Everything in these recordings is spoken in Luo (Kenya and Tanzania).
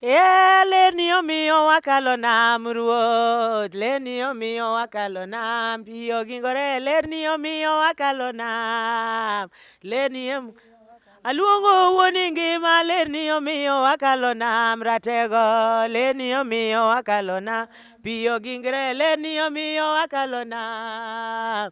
Yeah, leni omiyo wakalo nam ruoth leni omiyo wakalo nam pi ogingore leni omiyo wakalo nam leni em- aluongo wuoni ngima leni omiyo wakalo nam ratego leni omiyo wakalo nam pi ogingre leni omiyo wakalo nam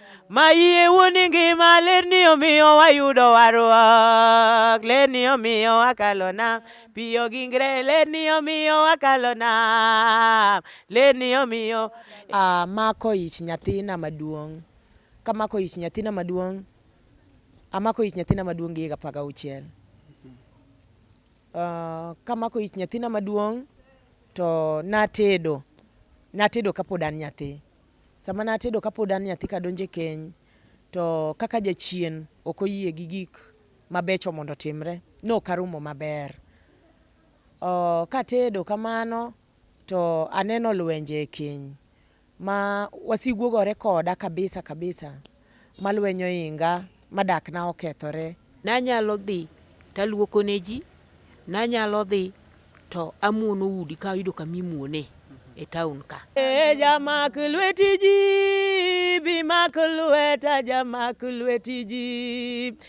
Mayie wuoni ngima lerni omiyo wayudo warruok lerni omiyo wakalo nam piyo gi ngre lerni omiyo wakalo nam lerni omiyo Amako ich nyathina maduong', kamako ich nyathina maduong', amako ich nyathina maduong' gi higa apar gauchiel. Uh, kamako ich nyathina maduong' to natedo, natedo kapod an nyathi. Sama natedo kapod an nyathi kadonjo e keny, to kaka jachien ok oyie gi gik mabecho mondo otimre, nok arumo maber. Oh, katedo kamano to aneno lwenje e keny ma wasigu ogore koda kabisa kabisa. ma lweny ohinga, ma dakna okethore. Nanyalo dhi to aluoko ne ji, nanyalo dhi to amuono udi ka oyudo kama imuone e taon ka. Ee jamak lweti ji, bi mak lweta jamak lweti ji.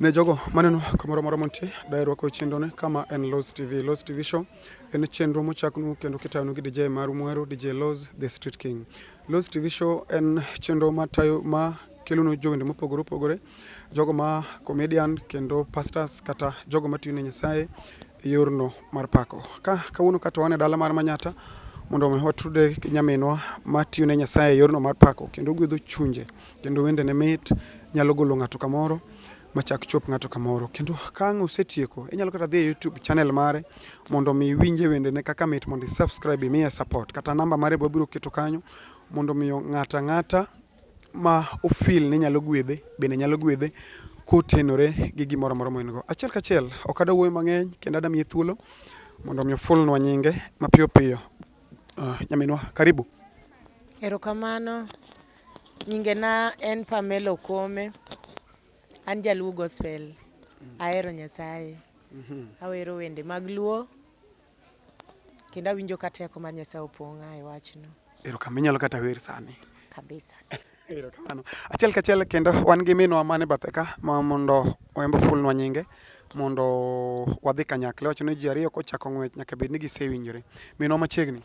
Ne jogo maneno kamoro moro montie, daher rwako chenro ne kama en Loz TV. Loz TV Show en chenro mochaknu kendo kitayonu gi DJ maru muhero DJ Loz The Street King. Loz TV Show en chenro ma tayo ma kelonu jowende mopogore opogore, jogo ma comedian kendo pastors kata jogo matiyo ne Nyasaye e yorno mar pako. Ka kawuono ka to wan e dala mar Manyata mondo omi watude gi nyaminwa matiyo ne Nyasaye e yorno mar pako kendo gwedho chunje kendo wende ne mit, nyalo golo ng'ato kamoro machak chop ng'ato kamoro. Kendo ka ang' osetieko, inyalo kata dhi e YouTube channel mare mondo mi iwinje wende ne kaka mit mondo i-subscribe imiye support. Kata namba mare be wabiro keto kanyo mondo mi ng'ata ng'ata ma ofil ni nyalo gwedhe bende nyalo gwedhe kotenore gi gimoro amora ma en go. Achiel kachiel ok ada wuoyo mang'eny kendo ada miye thuolo mondo mi ofulnwa nyinge mapiyo piyo. Uh, nyaminwa karibu. Erokamano. Nyingena en Pamela Okome. An jaluo gospel. Ahero Nyasaye. Awero wende mag luo kendo awinjo ka teko mar Nyasaye opong'a e wachno. Erokamano. Inyalo kata wer sani. Kabisa. Erokamano. Achiel kachiel kendo wan gi minwa mane bathe ka ma mondo wembo fulnwa nyinge mondo wadhi kanyakla. Iwacho ni ji ariyo kochako ng'wech nyaka bed ni gisewinjore. Minwa machiegni.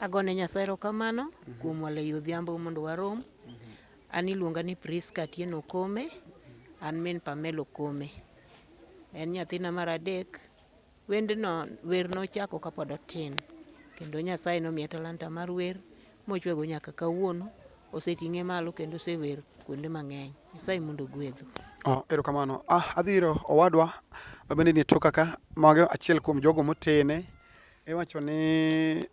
Agone Nyasaye erokamano kuom walo ei odhiambo mondo warom. An iluonga ni Prisca Atieno Okome, an min Pamela Okome. En nyathina mar adek. Wendno, wer nochako kapod atin kendo Nyasaye nomiya talanta mar wer mochwego nyaka kawuono. Oseting'e malo kendo osewer kuonde mang'eny. Nyasaye mondo ogwedhu. Oh, erokamano. Ah, adhiro owadwa mabende ni e toka ka, mago achiel kuom jogo motene Iwacho ni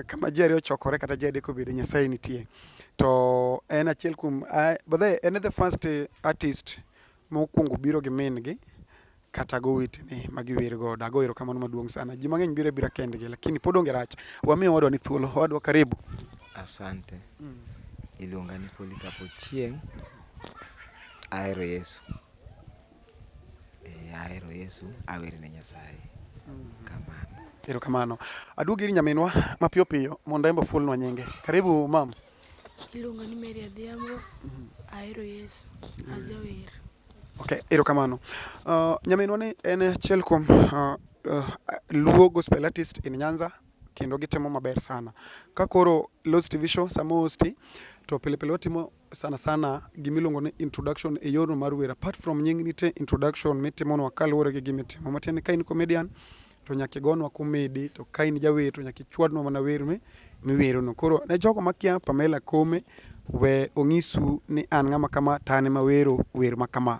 kama ji ariyo ochokore kata ji adek obede Nyasaye nitie. To en achiel kuom, bodhe en e the first artist mokwongo biro gi min gi kata gowetene ma giwer godo. Ago erokamano maduong' sana. Ji mang'eny biro abira kendgi lakini pod onge rach. Wami owadwa ni thuolo. Owadwa karibu. Asante. Iluonga ni Polycarp Ochieng'. Ahero Yesu. Eeh ahero Yesu, awer ne Nyasaye. Kamano. Erokamano. Aduog ir nyaminwa mapiyo piyo mondo embe ofulnwa nyinge. Karibu mam. Iluonga ni Mary Adhiambo. Ahero Yesu. Ajawer. Okay, erokamano. Uh, nyaminwa ni en achiel kuom uh, uh, Luo gospel artist in Nyanza kendo gitimo maber sana. Ka koro Lost TV show sama hosti to pile pile watimo sana sana gimiluongo ni introduction e yorno mar wer apart from nying nitie introduction mitimonwa kaluwore gi gimitimo matiende ni ka in comedian to nyaka igonwa komedi to ka in jawer to nyaka ichwadnwa mana wer mi miwerono koro ne jogo makia Pamela Kome we onyisu ni an ng'ama kama to an ema wero wer ma kama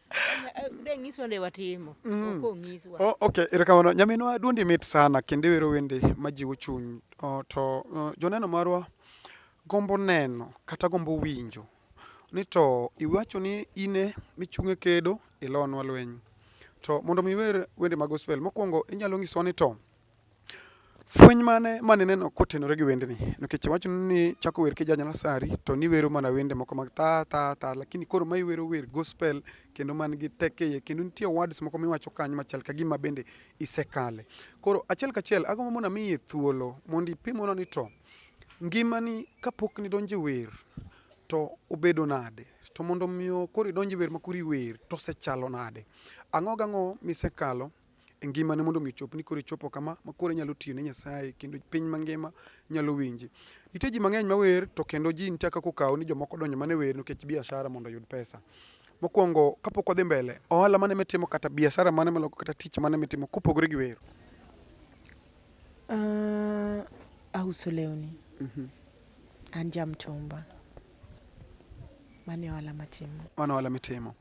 Mm. Oh, okay, erokamano. Nyaminwa duondi mit sana kendo iwero wende majiwo chuny. Oh, to oh, joneno marwa gombo neno kata gombo winjo ni to iwacho ni ine michung'e kedo ilonwa lweny. To mondo mi iwer wende mag gospel mokwongo inyalo nyisowa ni to Fweny mane mane ineno kotenore gi wendni? Nikech iwacho ni chako wer kija Nyalasari to niwero mana wende moko mag ta ta ta lakini koro ma iwero wer gospel kendo man gi teko iye kendo nitie words moko miwacho kanyo machal ka gima bende isekale. Koro achiel kachiel agombo mondo amiye thuolo mondo ipimona ni to ngimani kapok nidonjo e wer to obedo nade to mondo omiyo koro idonj e wer makoro iwer to osechalo nade? Ang'o gang'o misekalo e ngimane mondo mi chop ni koro ichopo kama ma koro inyalo tiyo ne Nyasaye kendo piny mangima nyalo winji. Nitie ji mang'eny mawer to kendo ji nitie kaka okawo ni jomoko donjo mana e wer nikech biashara mondo oyud pesa. Mokwongo kapok wadhi mbele, ohala mane mitimo kata biashara mane miloko kata tich mane mitimo kopogore gi wer? Uh, auso lewni. Mm -hmm. An jamtumba. Mano e ohala matimo. Mano ohala mitimo.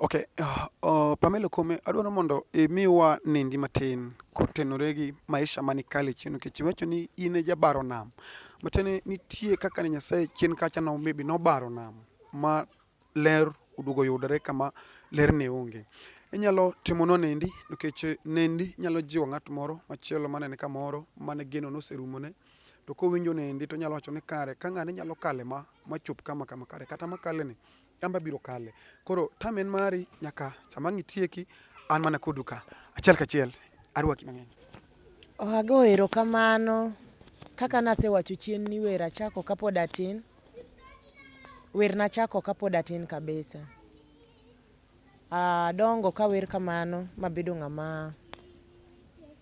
Okay, uh, uh, Pamela Kome, adwaro mondo imiwa nindi matin kotenore gi maisha mani kale chien nikech iwacho ni in e jabaro nam. Matiende nitie kaka ne Nyasaye chien kacha no maybe nobaro nam ma ler oduogo yudore kama ler ne onge. Inyalo timonwa nendi nikech nendi nyalo jiwo ng'at moro machielo manene kamoro mane geno noserumone. No to kowinjo nendi to nyalo wacho ni kare ka ng'ane nyalo kale ma machop kama kama kare kata makale ni amba biro kale koro tam en mari nyaka sama ang' itieki an mana kodu ka achiel kachiel arwaki mang'eny Ohago erokamano kaka nasewacho chien ni wer achako kapod atin wer nachako kapod atin kabisa Adongo kawer kamano mabedo ng'ama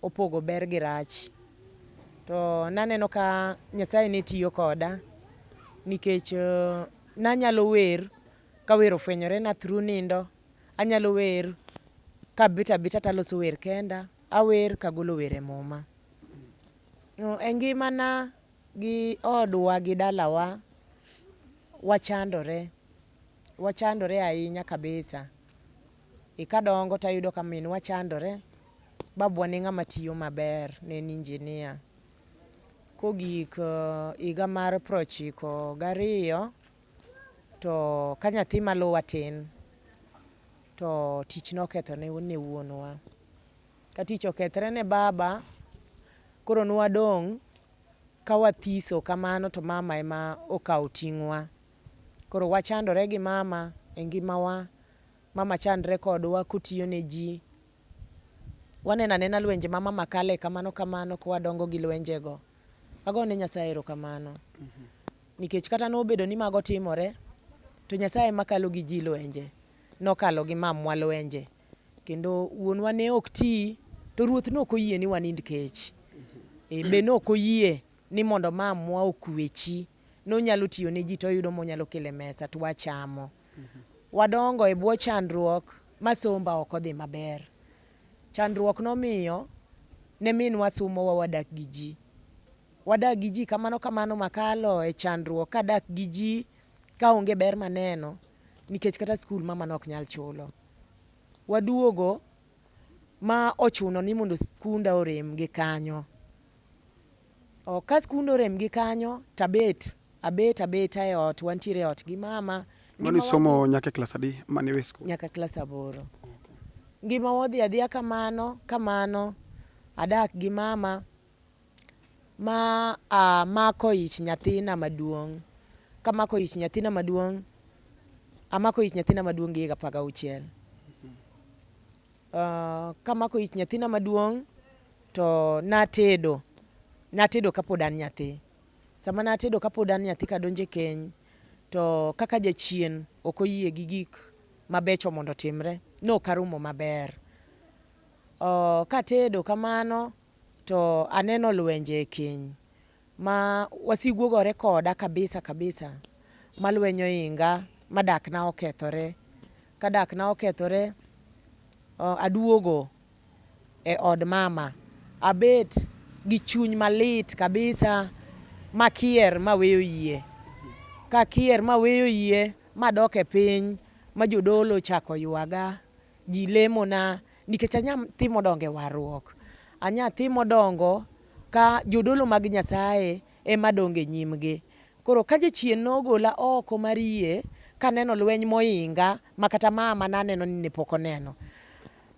opogo ber gi rach. To naneno ka Nyasaye ne tiyo koda nikech nanyalo wer ka wer ofwenyorena through nindo, anyalo wer kabet abeta taloso wer kenda, awer kagolo wer e Muma. E ngimana gi odwa gi dalawa wachandore. wachandore ahinya kabisa. E kadongo tayudo ka minwa chandore, babwa ne ng'ama tiyo maber, ne en injinia. Kogik eh, higa mar prochiko gariyo to ka nyathi maluwa tin to tich noketho ne ne wuonwa. Ka tich okethre ne baba, koro nwadong' ka wathiso kamano to mama ema okawo ting'wa. Koro wachandore gi mama e ngimawa, mama chandre kodwa kotiyo ne ji. Waneno anena lwenje ma mama kale kamano kamano ka wadongo gi lwenjego. Ago ne Nyasaye erokamano nikech kata nobedo ni mago timore to Nyasaye ema kalo gi ji lwenje. Nokalo gi mamwa lwenje kendo wuonwa ne ok ti to Ruoth ne ok oyie ni wanind kech. Be ne ok oyie ni mondo mamwa okwechi. nonyalo tiyo ne ji to oyudo monyalo kele mesa to wachamo. Wadongo e bwo chandruok ma somba ok odhi maber. Chandruok nomiyo ne minwa sumowa wadak gi ji. Wadak gi ji kamano kamano makalo e chandruok kadak gi ji ka onge ber maneno nikech kata skul mama ne ok nyal chulo. Waduogo ma ochuno ni mondo skunda orem gi kanyo. Oh, ka skund orem gi kanyo to abet abet abeta e ot wantiere e ot gi mama mani somo nyaka klas adi mani we skul nyaka klas aboro ngima wadhi adhiya kamano kamano adak gi mama ma uh, mako ich nyathina maduong kamako ich nyathina maduong amako ich nyathina maduong gi higa apar gauchiel uh, kamako ich nyathina maduong' To natedo, natedo kapod an nyathi. Sama natedo kapod an nyathi kadonjo e keny, to kaka jachien ok oyie gi gik mabecho mondo otimre, nok arumo maber. Katedo kamano to aneno lwenje e keny. Ma wasigu ogore koda kabisa kabisa, ma lweny oinga, ma dakna okethore. Ka dakna okethore, aduogo e od mama, abet gi chuny malit kabisa makier maweyo yie. Kakier maweyo yie madok e piny ma jodolo ochako ywaga, ji lemona nikech anya timo dongo e warruok. Anya timo dongo Ka jodolo mag Nyasaye e ma dongo e nyimgi. Koro ka jachien nogola oko mar yie ka aneno lweny mohinga ma kata ma a ma ne aneno ni ne pok oneno,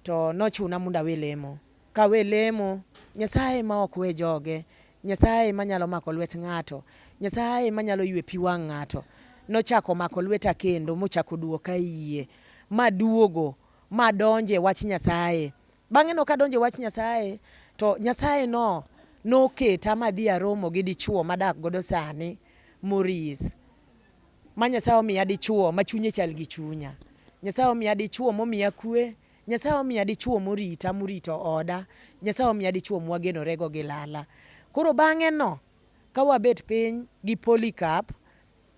to nochuna mondo awe lemo. Ka awe lemo, Nyasaye e ma ok we joge, Nyasaye e ma nyalo mako lwet ng'ato, Nyasaye e ma nyalo ywe pi wang' ng'ato, nochako omako lweta kendo mochako odwoka e yie, ma aduogo, ma adonjo e wach Nyasaye. Bang'e no kadonjo e wach Nyasaye to Nyasaye no noketa madhi aromo gi dichuo madak godo sani Moris ma Nyasaye omiya dichuo ma chunye chal gi chunya. Nyasaye omiya dichuo momiya kwe. Nyasaye omiya dichuo morita morito oda. Nyasaye omiya dichuo mwagenorego gi lala. Koro bang'e no ka wabet piny gi Polycarp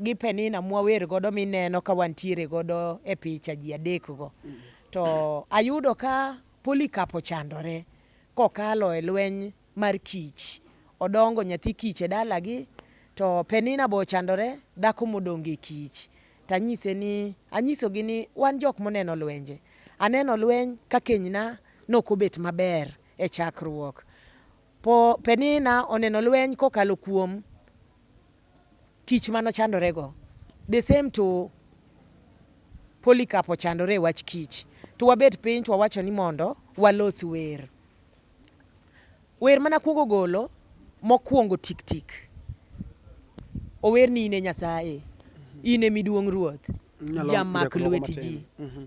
gi Penina mwawer godo mineno ka wantiere godo e picha ji adek go. To ayudo ka Polycarp ochandore kokalo e lweny mar kich. Odongo nyathi kich e dalagi to Penina be ochandore dhako modongo e kich. To anyise ni anyisogi ni wan jok moneno lwenje. Aneno lweny ka kenyna nok obet maber e chakruok. Po Penina oneno lweny kokalo kuom. kich mano chandore go the same to Polycarp ochandore e wach kich to wabet piny to wawacho ni mondo walos wer wer mana kuongo golo mokuongo tik tik ower ni ine nyasaye ine miduong ruoth jamak lweti ji mm -hmm.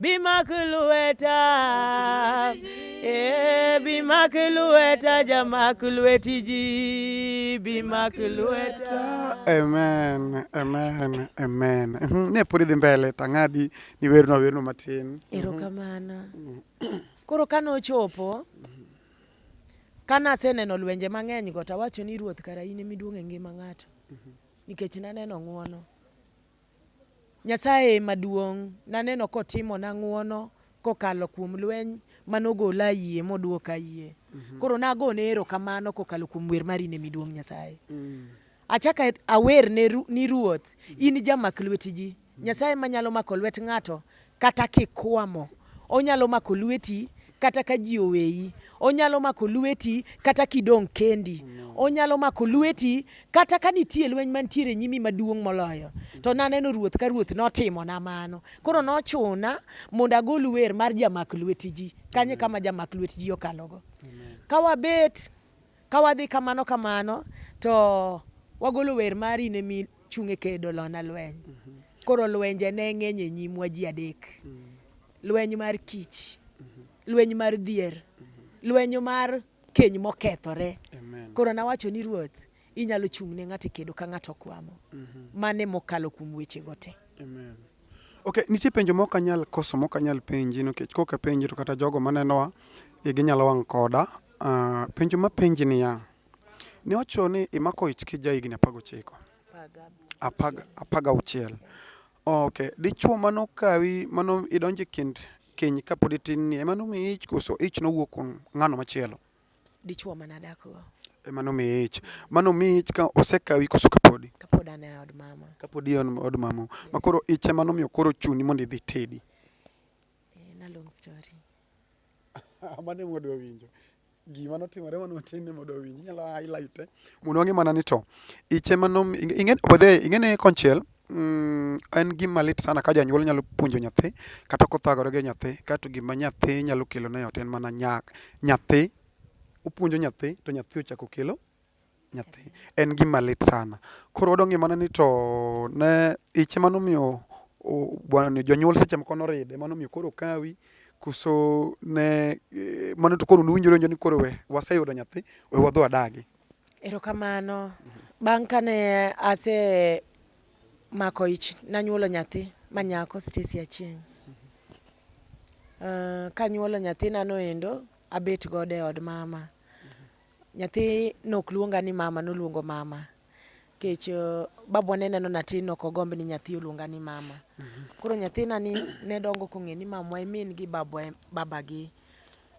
Bimak lueta, eh, bimak lueta, jamak lueti ji, bimak lueta. Amen, amen, amen. Mhm, Ne pod idhi mbele tang'adi ni werno werno matin. Erokamano. Koro kane ochopo, kane aseneno lwenje mang'eny go, tawacho ni Ruoth kara in emiduong' e ngima ng'ato, nikech naneno ng'wono. Nyasaye e maduong'. Naneno kotimona ng'wono kokalo kuom lweny ma nogola e yie modwoka e yie. Koro nagone erokamano kokalo kuom wer mari ne miduong' Nyasaye. Achako awer ni Ruoth, in jamak lwet ji. Nyasaye manyalo mako lwet ng'ato Kata kikwamo, onyalo mako lweti kata ka ji oweyi. Onyalo mako lweti kata kidong' kendi. Onyalo mako lweti kata ka nitie lweny mantiere e nyimi maduong' moloyo. To naneno Ruoth ka Ruoth notimona mano. Koro nochuna mondo agol wer mar jamak lwet ji. Kanyo e kama jamak lwet ji okalogo. Ka wabet. Ka wadhi kamano kamano to wagolo wer mari ne mi chung' e kedo lona lweny. Koro lwenje ne ng'eny e nyimwa ji adek. Lweny mar kich, lweny mar dhier, lweny mar keny mokethore. Koro nawacho ni Ruoth, inyalo chung' ne ng'ato e kedo ka ng'ato okwamo. Mano e mokalo kuom wechego te. Amen. Ok, nitie penjo mok anyal koso mok anyal penji nikech kok apenji to kata jogo manenowa igi nyalo wang' koda Uh, penjo mapenji niya, ne wacho ni imako ich ki ja higni apar gochiko apar gauchiel ok dichuo mano kawi mano idonje kind keny kapod itin ni ema nomiyi ich koso ich nowuok kuom ng'ano machielo dichuo mana dakgo ema nomiyi ich mano miyi ich ka osekawi koso kapodi kapod an e od mama kapod e od mama makoro ich ema nomiyo koro chuni mondo idhi tedi eh, na long story amane mwadwa winjo gima notimore mano matin ne mwadwa winjo inyalo highlight eh? mondo wang'e mana ni to iche mano bodhe ing'ene konchiel mm, en gima lit sana ka janyuol nyalo puonjo nyathi kata kothagore gi nyathi kato gima nyathi nyalo kelo ne ot en mana nyathi opuonjo nyathi to nyathi ochako kelo nyathi en gima lit sana. Koro wadwa ng'e mana ni to ne ich ema nomiyo bwana ni jonyuol seche moko noride mano miyo koro kawi kuso ne eh, mano to koro nuwinjore njo ni koro we waseyudo nyathi we wadhi wadagi erokamano bang' kane ase mako ich nanyuolo nyathi manyako Stacy Achieng uh, kanyuolo nyathina noendo abet godo e od mama Nyathi nok luonga ni mama noluongo mama kech eh, babwa ne neno nati nok ogomb ni nyathi oluonga ni mama koro nyathina ni ne dongo kong'e ni mamwa e min gi babwa e babagi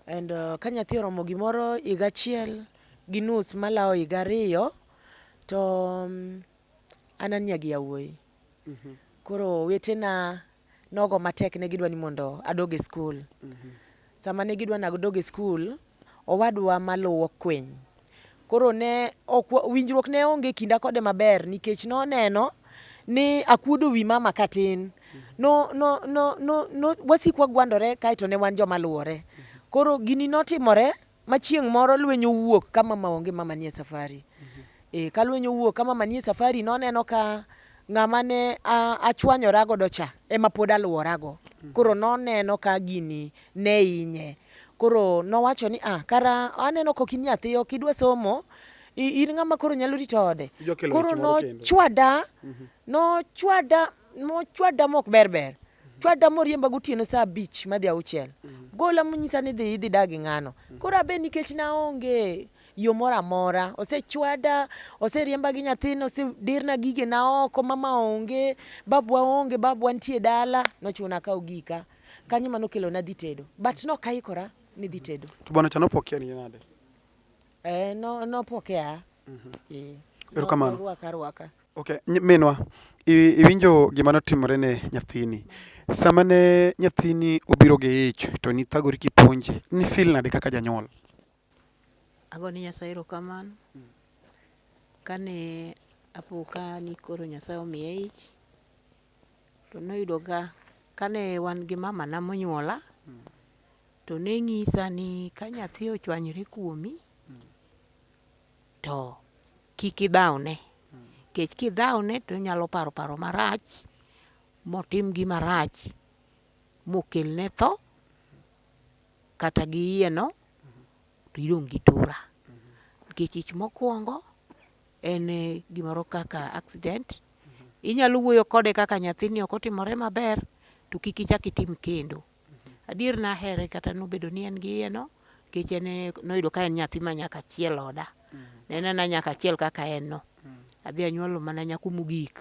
and eh, ka nyathi oromo gimoro higa achiel gi nus malawo higa ariyo to mm, an ania gi yawuoyi koro wetena nogo matek ne gidwa ni mondo adog e skul. Mm -hmm. Sama ne gidwa nadog e skul, owadwa maluwo kwiny. Koro ne ok winjruok ne onge kinda kode maber nikech noneno ni akuodo wi mama katin. No, no, no, no, no, wasikwa gwandore kaeto ne wan joma luwore. Koro gini notimore ma chieng' moro lweny owuok ka mama onge mama nie safari mm -hmm. e, ka lweny owuok ka mama nie safari noneno ka ng'ama ne achwanyora godo cha ema pod alworago mm. koro noneno ka gini ne inye koro nowacho ni ah, kara aneno kok in nyathi ok idwa somo in ng'ama koro nyalo rito ode koro nochwada mm-hmm. nochwada nochwada mok berber chwada moriemba gotieno saa abich madhi auchiel mm. gola monyisa ni dhi idhi dagi ng'ano mm. koro abe nikech naonge yo moro amora osechwada oseriemba gi nyathina osedirna gige na oko mama onge babwa onge babwa nitie dala nochuna kawo gika kanyo mano kelo na dhi tedo but no kaikora ni dhi tedo to bwana chano pokea ni nade eh no no pokea mhm mm -hmm. yeah. erokamano rwaka rwaka Okay, minwa iwinjo gima notimore ne nyathini. Sama ne nyathini obiro gi ich to nithagori kipuonje, ni feel nade kaka janyuol? Ago ni Nyasaye erokamano. Kane apo ka ni koro Nyasaye omiya ich, to noyudo ga kane wan gi mamana monyuola, to ne ng'isa ni ka nyathi ochwanyore kuomi, to Kik idhawne, nikech kidhawne to onyalo paro paro marach motim gima rach mokelne tho kata gi iyeno to idong' gi tura. Nikech ich mokwongo en gimoro kaka accident, inyalo wuoyo kode kaka nyathini ok otimore maber to kik ichak itim kendo. Adier nahere kata nobedo ni en gi iyeno nikech en e- noyudo ka en nyathi ma nyaka achiel oda. Ne en ana nyaka achiel kaka en no. Adhi anyuolo mana nyako mogik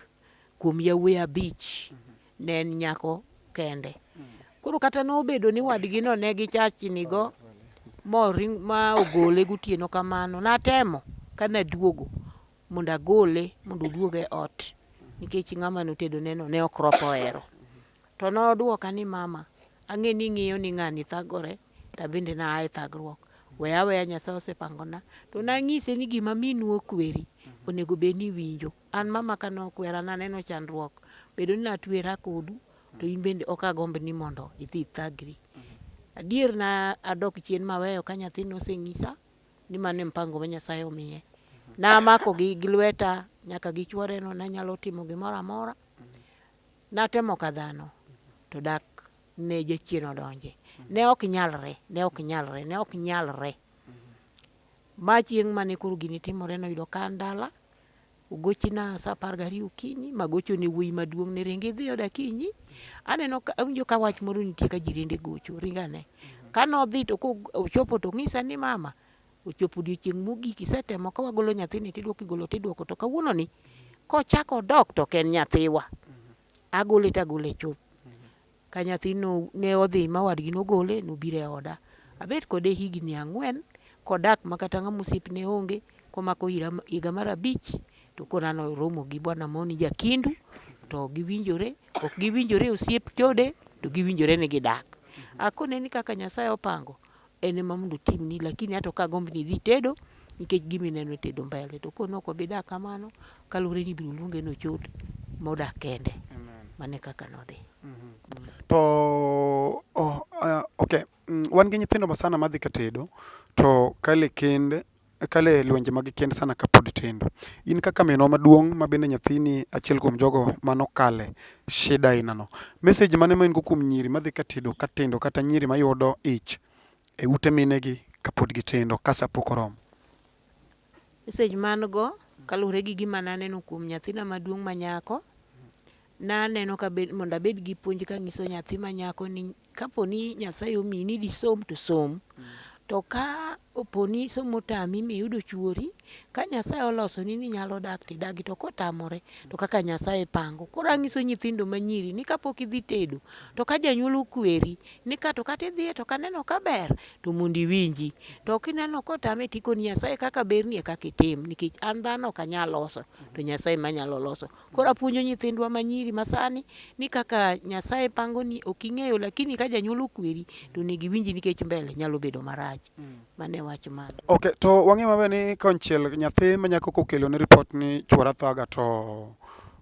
kuom yawuoyi abich. Ne en nyako kende. Koro kata nobedo ni wadgino ne gichachnigo moring ma ogole gotieno kamano, natemo ka naduogo mondo agole mondo oduog e ot nikech ng'ama notedoneno ne ok ropo hero. To nodwoka ni, 'Mama, ang'eyo ni ing'iyo ni ng'ani thagore, to abende naa e thagruok. We aweya Nyasaye osepangona. To nanyise ni gima minu okweri onego bed ni iwinjo. An mama ka nokwera naneno chandruok bedo ni natwera kodu to in bende ok agomb ni mondo idhi ithagri. Adier na adok chien maweyo ka nyathi nosenyisa ni mano e mpango ma Nyasaye omiye. Namakogi gi lweta nyaka gi chworeno nanyalo timo gimoro amora. Natemo ka dhano, to dak ne jachien odonje. Ne ok nyalre, ne ok nyalre, ne ok nyalre. Ma chieng' mane koro gini timore noyudo ka an dala, ogochina sa apar gariyo okinyi, magochone wuoyi maduong' ni ring idhi oda kinyi. Aneno ka awinjo ka wach moro nitie ka jirende gocho, ring ane. Kanodhi to kochopo tong'isa ni mama, Ochopo odiochieng' mogik isetemo ka wagolo nyathini tidwoko igolo tidwoko to kawuono ni kochako odok to ok en nyathiwa. Agole tagole chuth. Ka nyathi no ne odhi ma wadgi nogole nobiro e oda. Abet kode higni ang'wen kodak ma kata ng'ama osiepne onge komako ira higa mar abich to koro nano oromo gi bwana moro ni jakindu to giwinjore ok giwinjore osiep chode to giwinjore ni gidak. Akone ni kaka Nyasaye opango en ema mondo otimni, lakini ato ka agomb ni idhi itedo nikech gima ineno itedo mbele. To kone ok obi dak kamano, kaluwore ni ibiro luonge ni ochot modak kende. Mane kaka nodhi. Mm-hmm. To oh, uh, okay. Mm, wan gi nyithindo masana madhi ka tedo to kale kend Akalo e lwenje mag kend sana kapod tindo. In kaka minwa maduong' ma bende nyathini achiel kuom jogo mane okale shida aina no, message mane ma in go kuom nyiri madhi ka tedo ka tindo kata nyiri mayudo ich e ute mine gi kapod gitindo ka sa pok oromo? Message ma an go kaluwore gi gima naneno kuom nyathina maduong' ma nyako, naneno ka mondo abed gi puonj kanyiso nyathi ma nyako ni Kapo ni Nyasaye omiyi ni disom to som. Mm. To ka opo ni somo tami miyudo chuori, ka Nyasaye oloso ni ni nyalo dak tidagi to kotamore to kaka Nyasaye pango. Koro anyiso nyithindo manyiri ni kapok idhi tedo to ka janyuol okweri ni ka to kata idhiye to kaneno ka ber to mondo iwinji. To kineno kotame tikoni Nyasaye kaka berni e kaka itim nikech an dhano ok anyal loso to Nyasaye manyalo loso. Koro apuonjo nyithindwa manyiri masani ni kaka Nyasaye pangoni ok ing'eyo lakini ka janyuol okweri to onego iwinji nikech mbele nyalo bedo marach. Mm. Mane wach ma. Okay, to wang'e maber ni konchiel nyathi manyako kokelo ni report ni chuora thaga to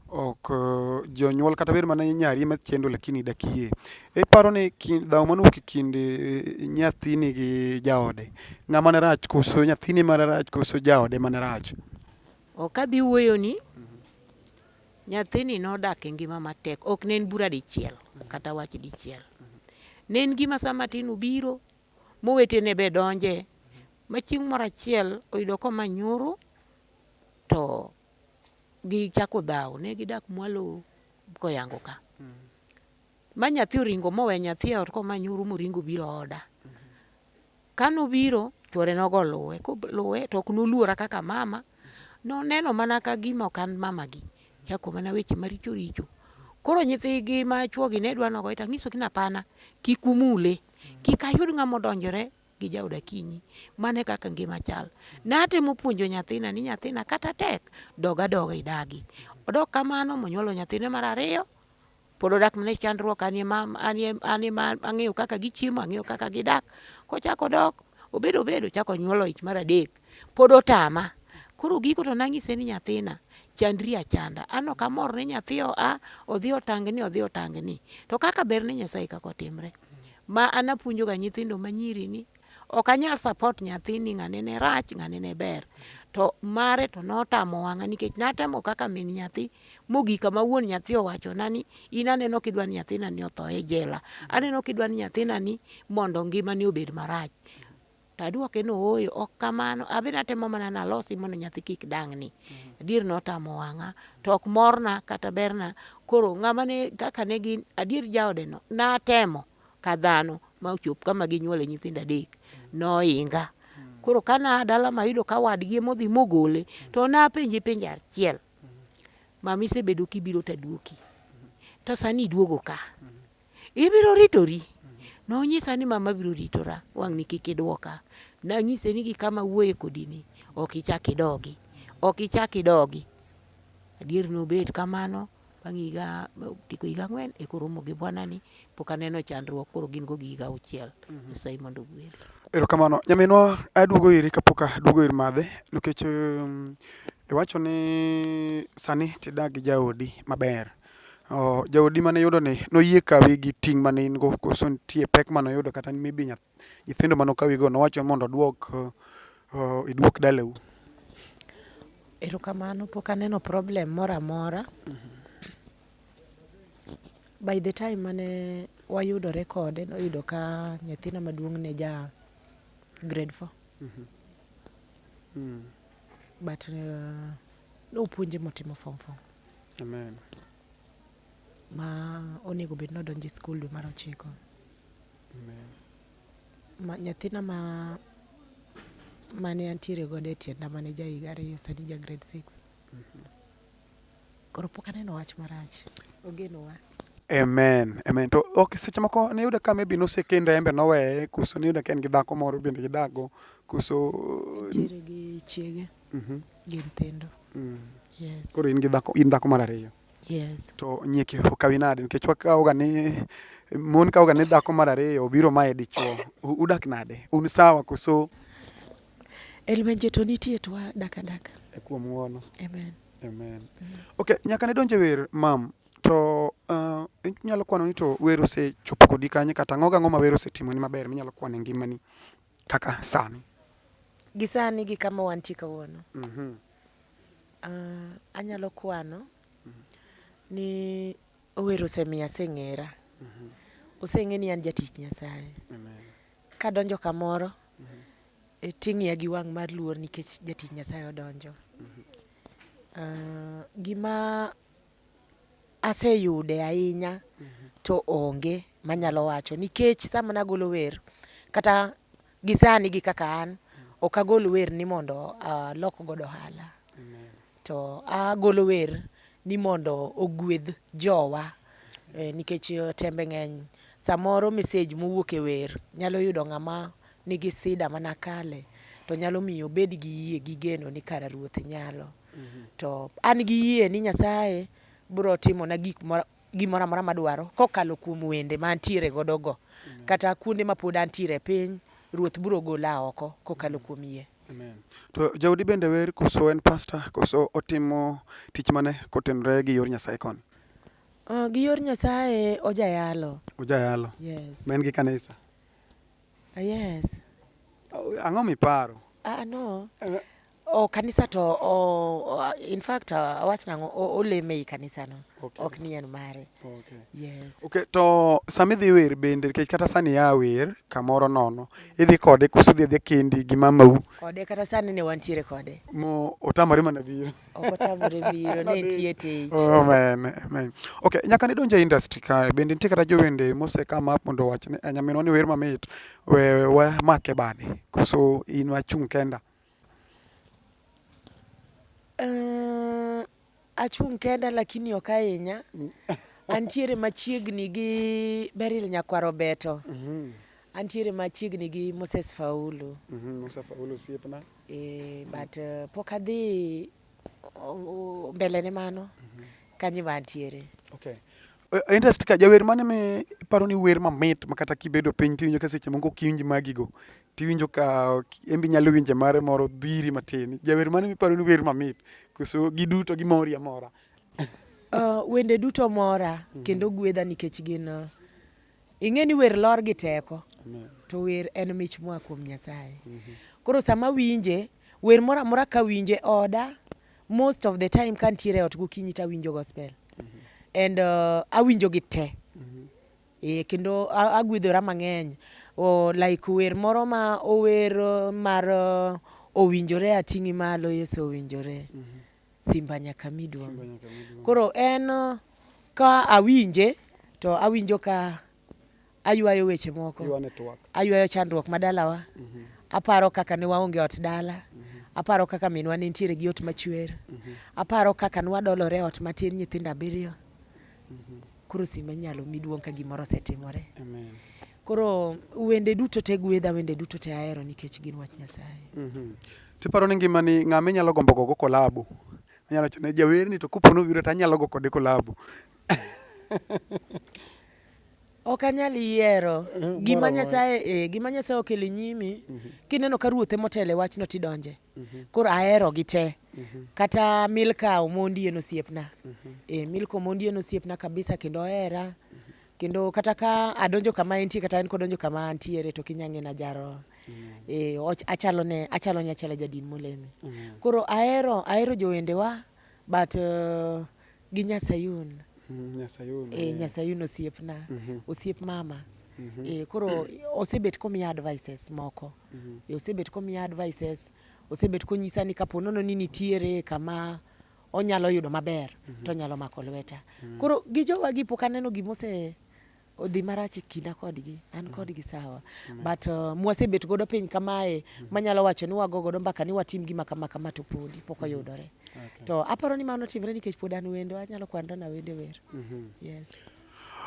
ok eh, jonyuol kata bed mana nyari ema chendo lakini dakie. Iparo ni dhaw mano wuok e kind eh, nyathini gi jaode ng'ama ne rach koso nyathini ema rach koso jaode ema ne rach? Ok adhi wuoyoni, nyathini nodak e ngima matek, ok ne en bura dichiel kata wach dichiel. Ne en gima sa matin obiro, mowetene be donje, ma chieng' moro achiel oyudo komanyuru to gichako dhawo, ne gidak mwalo koyango ka. Ma nyathi oringo mowe nyathi e ot komanyuru moringo obiro oda. Ka nobiro, chwore nogo oluwe. Koluwe to ok noluora kaka mama. Noneno mana ka gima ok an mamagi. Chako mana weche maricho richo. Koro nyithigi ma chwogi ne dwa nogoye to anyisogi ni hapana, kik umule. Kik ayud ng'ama odonjore gi jaod Akinyi. Mano e kaka ngima chal. Natemo puonjo nyathina ni nyathina kata tek, dog adoga idagi. Odok kamano monyuolo nyathine mar ariyo. pod odak mana e chandruok, an ema an ema ang'eyo kaka gichiemo, ang'eyo kaka gidak. Kochako dok obedo obedo chako nyuolo ich mar adek, pod otama. Koro giko to nang'ise ni nyathina chandri achanda. An ok amor ni nyathi oa odhi otangni odhi otangni. To kaka ber ne Nyasaye kaka otimre. Ma an apuonjoga nyithindo manyiri ni Ok anyal support nyathi ni ng'ane ne rach, ng'ane ne ber. To mare to notamo wang'a nikech natemo kaka min nyathi mogik kama wuon nyathi owachona ni in aneno kidwa ni nyathina ni otho e jela. Aneno kidwa ni nyathina ni mondo ngimane obed marach. To adwoke ni ooyo, ok kamano. Adhi natemo mana nalosi mondo nyathi kik dang'ni. Adier notamo wang'a, to ok morna kata berna. Koro ng'ama ne kaka ne gin, adier jaodeno natemo. ka dhano ma ochop kama ginyuole nyithindo adek noinga. Koro ka naa dala mayudo ka wadgi emodhi mogole to napenje penjo achiel. Mama isebedo kibiro taduoki to sani iduogo ka. Ibiro ritori? Nonyisa ni mama biro ritora wang'ni kik idwoka. Nanyise ni gi kama awuoye kodini ok ichak idogi. Ok ichak idogi. Adier nobet kamano. Bang' higa tieko higa ang'wen e koromo gi bwanani, pok aneno chandruok, koro gin go gi higa auchiel. Mhm. Nyasaye mondo ogwel. Erokamano. Nyaminwa aduogo iri kapok aduogo ir madhe nikech um, iwacho ni sani tidak gi jaodi maber. Oh, jaodi mane yudo ni noyie kawi gi ting' mane in go koso nitie pek mane oyudo kata maybe nyath, Nyithindo mane okawigo nowacho mondo odwok uh, idwok dalau. Erokamano, pok aneno problem moro amora. Mm -hmm. By the time mane wayudore kode noyudo ka nyathina maduong' ne ja grade four. Mm -hmm. Mm. But uh, nopuonje motimo form four. Amen. Ma onego bed nodonje skul dwe mar ochiko. Nyathina ma mane antiere godo e tienda mane ja higa ariyo sani ja grade six. Mhm. Koro pok aneno wach marach. Ogenowa. Amen. Amen. To ok seche moko ne yudo ka maybe nosekendo embe noweye kuso ne yudo ka en gi dhako moro bende gidago kuso nitiere gi chiege mhm. gi nyithindo. Mm. Yes. Koro in gi dhako in dhako mar ariyo. Yes. To nyieke okawi nade nikech wakawoga ni mon kawoga ni dhako mar ariyo obiro mae dichuo. Udak nade? Un sawa koso? Elwenje to nitie to wadak adaka. E kuom ng'uono. Amen. Amen. Mm. Okay, nyaka ne donje wer mam to uh, inyalo kwano ni to wer osechopo kodi kanye kata ang'o gang'o ma wer osetimoni maber minyalo kwano e ngimani? Kaka sani. Gi sani gi kama wantie kawuono. Mm -hmm. uh, anyalo kwano mm -hmm. ni Ower osemiya aseng'era. Mm -hmm. Oseng'e ni an jatich Nyasaye. Amen. Kadonjo kamoro mm -hmm. e, ting'iya gi wang' mar luor nikech jatich Nyasaye odonjo. Mm -hmm. uh, gima Aseyude ahinya to onge manyalo wacho nikech sama nagolo wer kata gi sani gi kaka an ok agol wer ni mondo alok godo ohala. To agolo wer ni mondo ogwedh jowa nikech tembe ng'eny. Samoro mesej mowuok e wer nyalo yudo ng'ama nigi sida manakale to nyalo miyo obed gi yie gi geno ni kara Ruoth nyalo. to an gi yie ni Nyasaye biro timona gik gimoro amora madwaro kokalo kuom wende ma antiere godo go kata kuonde ma pod antiere e piny ruoth biro gola oko kokalo kuom yie Amen. To jaudi bende wer koso en pastor koso otimo tich mane kotenore gi yor Nyasaye koni? Uh, gi yor Nyasaye ojayalo. Ojayalo. Yes. Men gi kanisa. Uh, yes. Uh, ang'o miparo? Ah uh, no. Uh, Oh, kanisa to oh, oh, in fact uh, awach nango oleme ei kanisa no okay. ok ni en mare okay. yes. okay, to sama idhi wer bende nikech kata sani ya wer kamoro nono idhi kode kuso dhi adhi kendi gi mamau kode kata sani ne wantiere kode mo otamore mana biro ok otamore biro ne tie tich oh, amen amen okay nyaka ne donje industry ka bende nitie kata jowende mose come up mondo wachne eh, nyaminwa ni wer mamit we, we make bade kuso in wachung kenda Uh, achung' kenda lakini ok ahinya. Antiere machiegni gi Beryl Nyakwaro Beto. Mhm. Antiere machiegni gi Moses Faulu. Mhm. Musa Faulu osiepna. Eh, but uh, pok adhi mbele ne mano mhm. kanyi ma antiere. Okay. E, interest ka jawer mane me paro ni wer mamit ma kata kibedo piny tiwinjo ka seche moko kiwinj magigo tiwinjo ka embi nyalo winje mare moro dhiri matin. Jawer mane miparo ni wer mamit koso giduto gimori amora? Uh, wende duto mora mhm. kendo gwedha nikech gin uh, Ing'e ni wer lor gi teko. Amen. To wer en mich moa kuom Nyasaye. Mm -hmm. Koro sama winje, wer moro amora ka winje oda, most of the time ka ntiere e ot gokinyi to awinjo gospel. Mm -hmm. And uh, awinjo gi te. Mm -hmm. E, kendo agwedhora mang'eny. O, like wer moro ma ower uh, mar uh, owinjore ating'i malo Yesu owinjore. Mm -hmm. Simba nyaka mi duong'. Koro en ka awinje to awinjo ka aywayo weche moko, aywayo chandruok ma dalawa, mhm. aparo kaka ne waonge ot dala, mhm. aparo kaka minwa ne nitiere gi ot machwer, mhm. aparo kaka nwadolore ot matin nyithindo abiriyo. Koro simba inyalo mi duong' ka gimoro osetimore. Koro wende duto te gwedha, wende duto te ahero nikech gin wach Nyasaye. Mm -hmm. Tiparo ni ngima ni ng'ama inyalo gombo gogo kolabo? Anyalo chone jawer ni to kupono biro to anyalo go kode kolabo. ok anyal yiero eh, gima nyasaye eh, gima nyasaye okele nyimi mm -hmm. kineno ka ruothe motele wachno tidonje mm -hmm. koro ahero gi te mm -hmm. kata milka omondi en osiepna mm -hmm. eh, milka omondi en osiepna kabisa kendo ohera mm -hmm. kendo kata ka adonjo kama entie kata en kodonjo kama antiere to kinyange na jaro e, achalo ne achalo ne achala jadin moleme koro ahero ahero jowendewa but uh, gi nyasayun mm, nyasayun e, nyasayun osiepna mm -hmm. osiep mama mm -hmm. e, koro osebet komiya advices moko mm -hmm. e, osebet komiya advices osebet konyisa ni kapo nono ni nitiere kama onyalo yudo maber mm -hmm. to onyalo mako lweta mm -hmm. koro gi jowa gi pok aneno gima ose odhi marach e kinda kodgi an mm. kodgi sawa mm -hmm. but uh, mwasebet godo piny kamae mm -hmm. manyalo wacho ni wago godo mbaka ni watim gima kama kama to podi pok mm-hmm. oyudore mm -hmm. okay. to aparo ni mano timre nikech pod an wendo anyalo kwandona wende wer mm -hmm. yes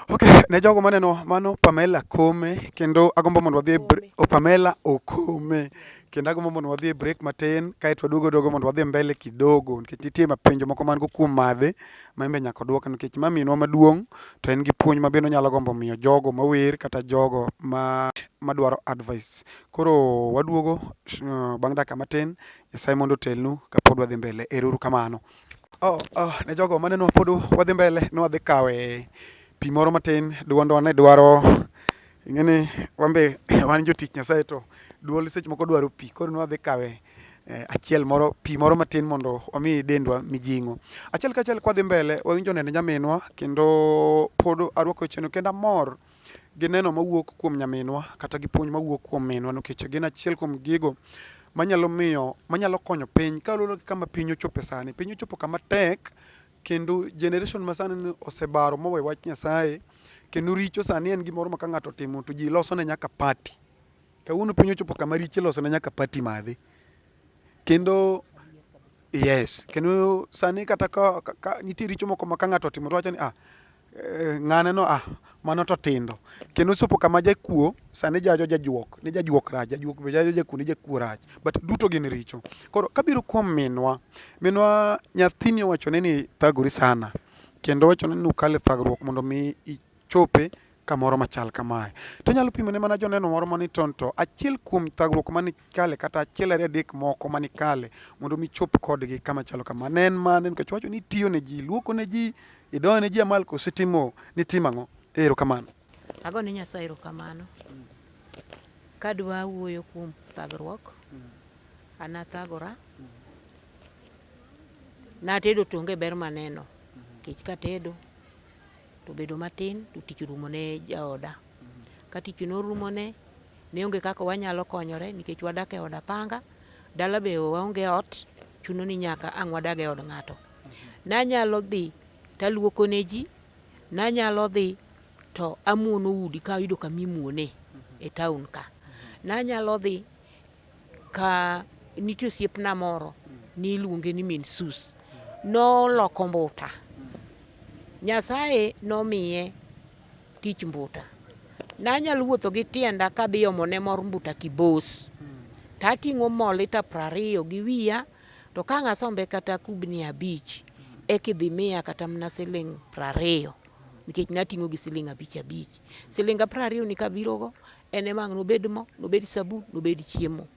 Ok, ne jogo maneno mano Pamela Kome kendo agombo mondo wadhi e oh, Pamela Okome kendo agombo mondo wadhi e break matin kaeto waduogo dogo mondo wadhi mbele kidogo nikech nitie mapenjo moko man go kuom madhe ma embe nyaka dwok nikech ma minwa maduong' to en gi puonj ma bende onyalo gombo miyo jogo mawer kata jogo ma madwaro advice. Koro waduogo uh, bang' dakika matin, Nyasaye mondo otelnu kapod wadhi mbele. Eruru kamano. Oh, oh, ne jogo maneno pod wadhi mbele ne wadhi kawe pi moro matin duondwa ne dwaro ing'eni wambe wan jotich Nyasaye to duol seche moko dwaro pi koro ne wadhi kawe eh, achiel moro pi moro matin mondo omi dendwa mijing'o achiel kachiel kwadhi mbele wawinjo nende nyaminwa kendo pod arwako wecheno kendo amor gi neno mawuok kuom nyaminwa kata gi puonj mawuok kuom minwa nikech gin achiel kuom gigo manyalo miyo manyalo konyo piny kaluwore gi kama piny ochope sani. Piny ochopo kama tek kendo generation masani ni osebaro mowe wach Nyasaye kendo richo sani en gimoro ma ka ng'ato otimo to ji loso ne nyaka party. Kawuono piny ochopo kama richo iloso ne nyaka party madhi. Kendo yes kendo sani kata ka, ka, ka nitie richo moko ma ka ng'ato otimo to wacho ni ah Eh, ng'ane no ah mano to tindo kendo sopo kama jakuo sani jajo jajuok ni jajuok rach jajuok be jajo jakuo ni jakuo rach but duto gin richo koro kabiro kuom minwa minwa nyathini owachone ni thagori sana kendo wachone ni ukale thagruok mondo mi ichope kamoro machal kamae to nyalo pimone mana joneno moro mani tonto achiel kuom thagruok mane kale kata achiel ariyo adek moko mani kale mondo mi chop kodgi kama chalo kama ne en mane nikech wacho ni tiyo ne ji luoko ne ji idoyo ne ji amal koso itimo ni tim ang'o ero kamano ago ne nyasaye ero kamano kadwa wuoyo kuom thagruok an athagora natedo tonge ber maneno kech katedo to bedo matin to tich orumo ne jaoda. Ka tich norumo ne, ne onge kaka wanyalo konyore nikech wadak e od apanga, dala be waonge ot, chuno ni nyaka ang' wadag e od ng'ato. Nanyalo dhi taluoko ne ji, nanyalo dhi to amuono udi ka ayudo kama imuone e taon ka. Nanyalo dhi Ka nitie osiepna moro niluonge ni min Sus, noloko mbuta. Nyasaye nomiye tich mbuta. Nanyalo wuotho gi tienda kadhi omone mor mbuta Kibos. Tating'o mo lita prariyo gi wiya, to ka ang' asombe kata kubni abich, eka idhi miya kata mana siling' prariyo nikech nating'o gi siling' abich abich. Silinga praariyoni kabirogo, En ema ang' nobed mo, nobed sabun, nobed chiemo.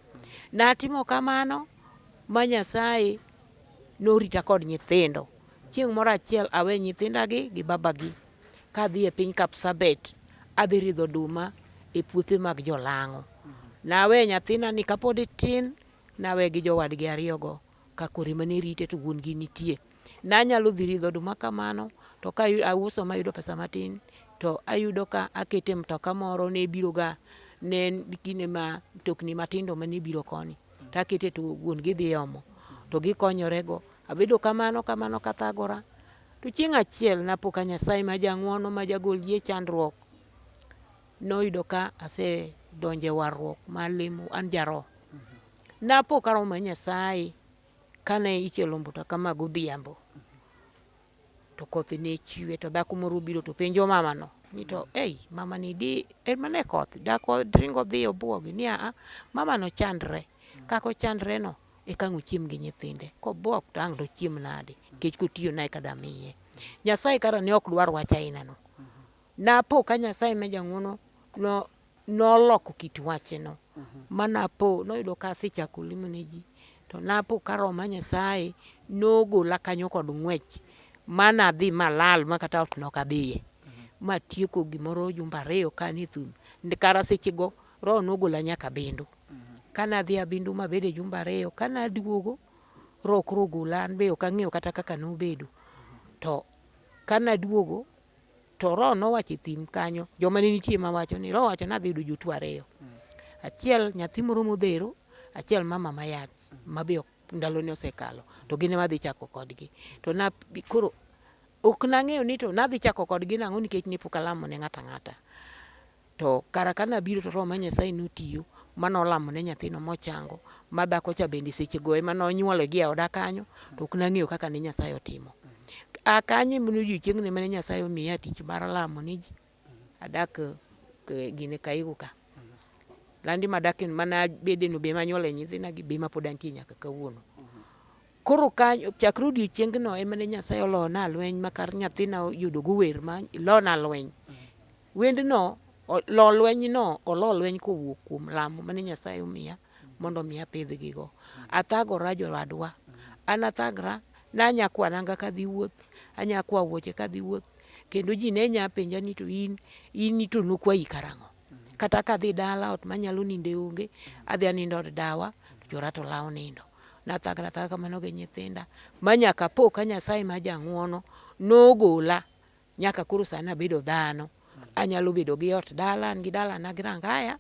Natimo kamano ma Nyasaye norita kod nyithindo. Chieng' moro achiel awe nyithindagi gi babagi kadhi e piny Kapsabet adhi ridho oduma e puothe mag jolang'o. Nawe nyathinani kapod tin nawe gi jowadgi ariyogo. ka kore mane rite to wuon gi nitie. Nanyalo dhi ridho oduma kamano to ka auso mayudo pesa matin to ayudo ka akete mtoka moro ne biroga ne kinde ma mtokni matindo mane biro koni to akete to wuon gi dhi omo to gikonyorego. Abedo kamano kamano kathagora to chieng' achiel napo ka Nyasaye ma jang'wono ma jagol ji e chandruok Noyudo ka asedonjo e warruok ma limo an jaroho. Napo ka roho mar Nyasaye kane ichielo mbuta kama godhiambo to koth ne chwe to dhako moro obiro to penjo mamano ni to ei mamani di en mana e koth dhako ringo dhi obwogi ni aa mamano chandre kaka ochandreno e kang' ochiem gi nyithinde kobwok to ang' dochiem nade nikech kotiyo nae ka damiye. Nyasaye kara ne ok dwar wach ainano Napo ka Nyasaye ma jang'wono no noloko kit wacheno mhm. ma napo noyudo ka asechako limo ne ji to napo ka roho ma Nyasaye nogola kanyo kod ng'wech ma nadhi malal ma kata ot nok adhiye mhm. ma tieko gimoro jumba ariyo ka ni thum kara sechego roho nogola nyaka bindu mhm. ka nadhi abindu mabede jumba ariyo ka naduogo roho koro ogola an be ok ang'eyo kata kaka nobedo to ka naduogo To Roho nowacho e thim kanyo, joma ne nitie ma wacho ni Roho wacho ni adhi yudo jotuo ariyo. Achiel nyathi moro modhero, achiel mama mayach ma be ndalone osekalo to gin ema adhi chako kodgi. To na koro ok nang'eyo ni to nadhi chako kodgi nang'o nikech ne pok alamo ne ng'ato ang'ata. To kara ka nabiro to Roho ma Nyasaye notiyo ma nolamo ne nyathino mochango, ma dhako cha bende sechego ema nonyuole gi e oda kanyo, to ok nang'eyo kaka ne Nyasaye otimo. A kanyo ema odiochieng'no ema ne Nyasaye omiya tich mar lamo ne ji. Adak eh, gine Kaigu ka. Landi madak en mana bedeno be manyuole nyithina gi be ma pod antie nyaka kawuono. Koro kanyo chakre odiochiengno ema ne Nyasaye olona lweny ma kar nyathina yudogo wer ma lona lweny. Wendno, Lo lwenyno olo lweny kowuok kuom lamo mane Nyasaye omiya mondo omi apidhgigo. Athagora jowadwa, an athagra, ne anya kwa nanga kadhi wuoth, anya kwa wuoche kadhi wuoth, kendo ji ne nya penja ni to in, in to nokwayi karang'o? Kata kadhi dala ot manyalo ninde onge, adhi anindo od dawa, to chora to lawo nindo. Nathagra athaga kamano gi nyithinda, ma nyaka apo ka Nyasaye ma jang'wono nogola Nyaka koro sani abedo dhano, anyalo bedo gi ot dala, an gi dalana gi rangaya,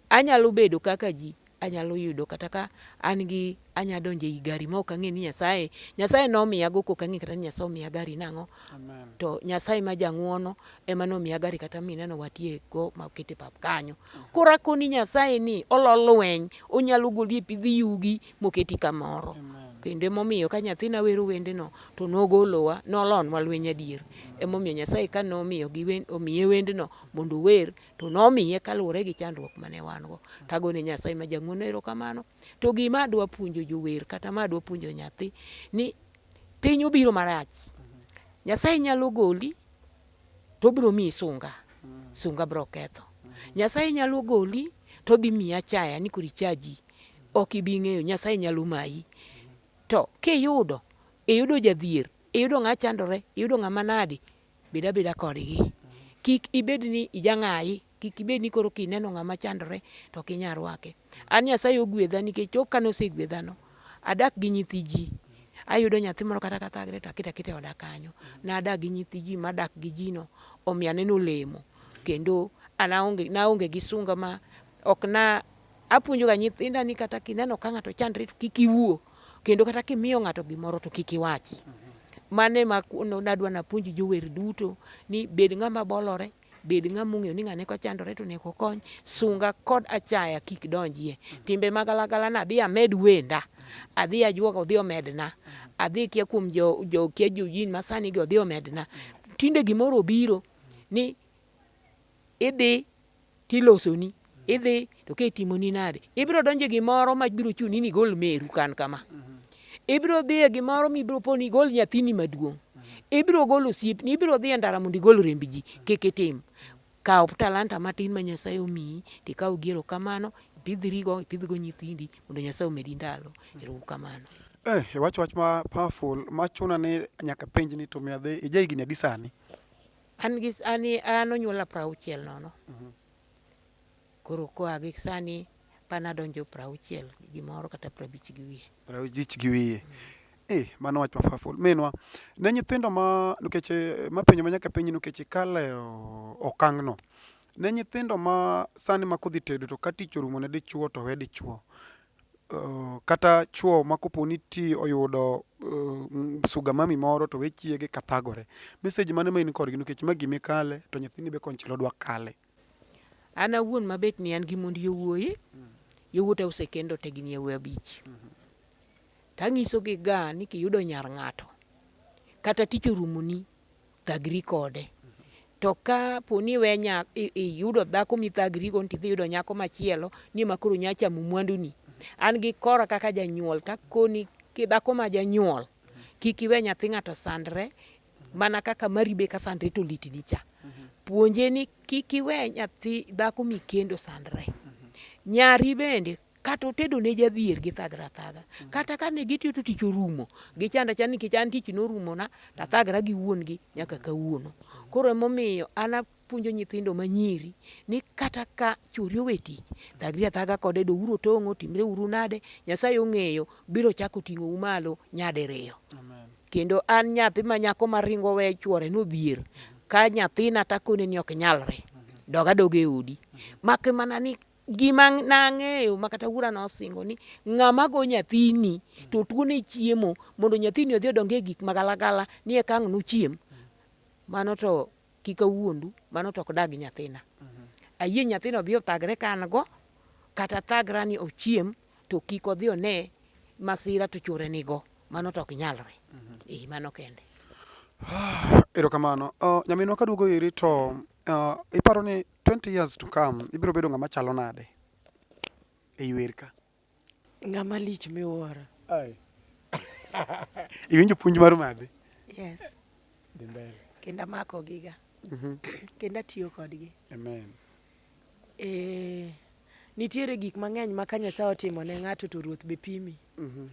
anyalo bedo kaka ji, anyalo yudo kata ka an gi anya donjo ei gari ma ok ang'e ni Nyasaye, Nyasaye nomiya go kok ang'e kata ni Nyasaye omiya gari nang'o. To Nyasaye ma jang'uono ema nomiya gari kata mineno watie go ma okete pap kanyo. Koro akoni Nyasaye ni olo lweny, onyalo goli e pidh yugi, moketi kamoro kendo emomiyo ka nyathina wero wendeno to nogolowa nolonwa lweny adier emomiyo nyasaye ka nomiyo omiye wendno mondo ower to nomiye kaluwore gi chandruok mane wan go tagone nyasaye ma jang'wono erokamano to gima adwa puonjo jower kata ma adwa puonjo nyathi ni piny obiro marach nyasaye nyalo goli to obiro miyi sunga sunga biro ketho nyasaye nyalo goli to dhi miyi achaya ni koro ichaji ok ibi ng'eyo, Nyasaye nyalo mayi. To kiyudo, iyudo jadhier, iyudo ng'a chandore, iyudo ng'ama nadi, bed abeda kodgi. Kik ibed ni ijang'ayi, kik ibed ni koro kineno ng'ama chandore to ok inyal rwake. An Nyasaye ogwedha nikech tok kane osegwedhano, adak gi nyithi ji. Ayudo nyathi moro kata kathagre to aketo aketa e oda kanyo. Nadak gi nyithi ji madak gi jino, omiyo aneno olemo kendo naonge gi sunga ma ok na Apuonjo ga nyithinda ni kata kineno ka ng'ato chandre to kik iwuo kendo kata kimiyo ng'ato gimoro to kik iwachi. Mane ma nadwa napuonji jower duto ni bed ng'ama bolore bed ng'ama ong'eyo ni ng'ane kochandore to neko kony sunga kod achaya kik donjie timbe magalagala na adhi amed wenda adhi ajuoga odhi omedna adhi kia kuom jo, jo kia jojin masani gi odhi omedna tinde gimoro obiro ni Idhi to ilosoni, idhi to ka itimoni nade, ibiro donjo gimoro ma biro chuni ni igol meru kan kama. Ibiro dhi e gimoro ma ibiro po ni igol nyathini maduong'. Ibiro golo osiepni, ibiro dhi e ndara mondo igol remb ji. Kik itim. Kaw talanta matin ma Nyasaye omiyi to ikaw gi erokamano, ipidhrigo, ipidhgo nyithindi mondo Nyasaye omedi ndalo. Ero uru kamano. Eh, iwacho wach ma powerful ma chuna ni nyaka penj ni to mi adhi ija higni adi sani? An gi sani an onyuola prauchiel nono. Mhm. Koro koa gi sani pan adonjo prauchiel gi gimoro kata prabich gi wiye. Prabich gi wiye. Eh, mano wach mafaful. Minwa, ne nyithindo ma nikech eh, mapenjo ma nyaka penji nikech ikale okang'no. Ne nyithindo ma sani ma kodhi tedo to ka tich orumo ne dichuo to we dichuo. Kata chwo ma kopo ni ti oyudo sugar mummy moro to we chiege ka thagore. Message mane ma in kodgi nikech ma gimi kale to nyathini be konchiel odwa kale. An awuon ma bet ni an gi mond yowuoyi, yowuota osekendo te gin yawuoyi abich. Tanyisogi ga ni kiyudo nyar ng'ato, kata tich orumoni, Thagri kode. To ka po ni we iyudo dhako mithagrigo ni tidhi yudo nyako machielo ni ma koro nya chamo mwanduni, an gi kora kaka janyuol takoni kidhako ma janyuol kik iwe nyathi ng'ato sandre mana kaka mari be ka sandre to litni cha. Puonje ni kik iwe nyathi dhako mikendo sandre. Nyari bende kata otedo ne jadhier gi thagra thaga mm. kata ka ne gitiyo to tich orumo gi chanda chanda nikech an tich norumo na to athagra gi wuon gi nyaka kawuono koro emomiyo an apuonjo nyithindo ma nyiri ni kata ka chori owe tich thagri athaga kode do uro tong'o timre uru nade nyasaye ong'eyo biro chako ting'o u malo nyadiriyo kendo an nyathi ma nyako ma ringo we chuore no dhier ka nyathina takone ni ok nyalre doga doga e odi mak mana ni gima nang'eyo ma kata wuora nosingo ni ng'ama go nyathini to tuone chiemo mondo nyathini odhi odong e gik magalagala ni eka ang' nochiem. Mano to kik awuondu, mano to ok dag nyathina. Ayie nyathina odhi othagre ka an go, kata thagra ni ochiem to kik odhi one masira to chwore nigo. Mano to ok nyalre. Ee, mano kende. Erokamano. Uh, nyaminwa kaduogo iri to uh, iparo ni 20 years to come ibiro bedo ng'ama chalo nade e yuer ka? Ng'ama lich miwuoro. Ai. Iwinjo puonj mar madhi? Yes. Dhi mbele. Kendo amako giga. Mhm. Kendo atiyo kodgi. Amen. Eh, nitiere gik mang'eny ma ka Nyasaye otimo ne ng'ato to ruoth be pimi. Mhm.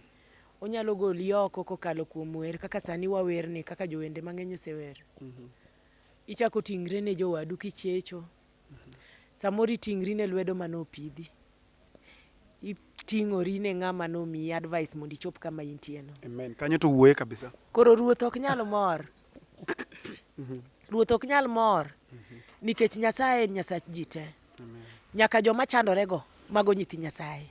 Onyalo goli oko kokalo kuom wer kaka sani wawerni kaka jowende mang'eny osewer. Mhm. Ichako ting're ne jowadu kichecho. Samoro iting'ri ne lwedo mane opidhi. Iting'ori ne ng'ama nomiyi advice mondo ichop kama intie no. Amen. Kanyo to wuoye kabisa. Koro ruoth ok nyal mor. Ruoth ok nyal mor nikech Nyasaye en Nyasach ji te. Nyaka joma chandorego mago nyithi Nyasaye.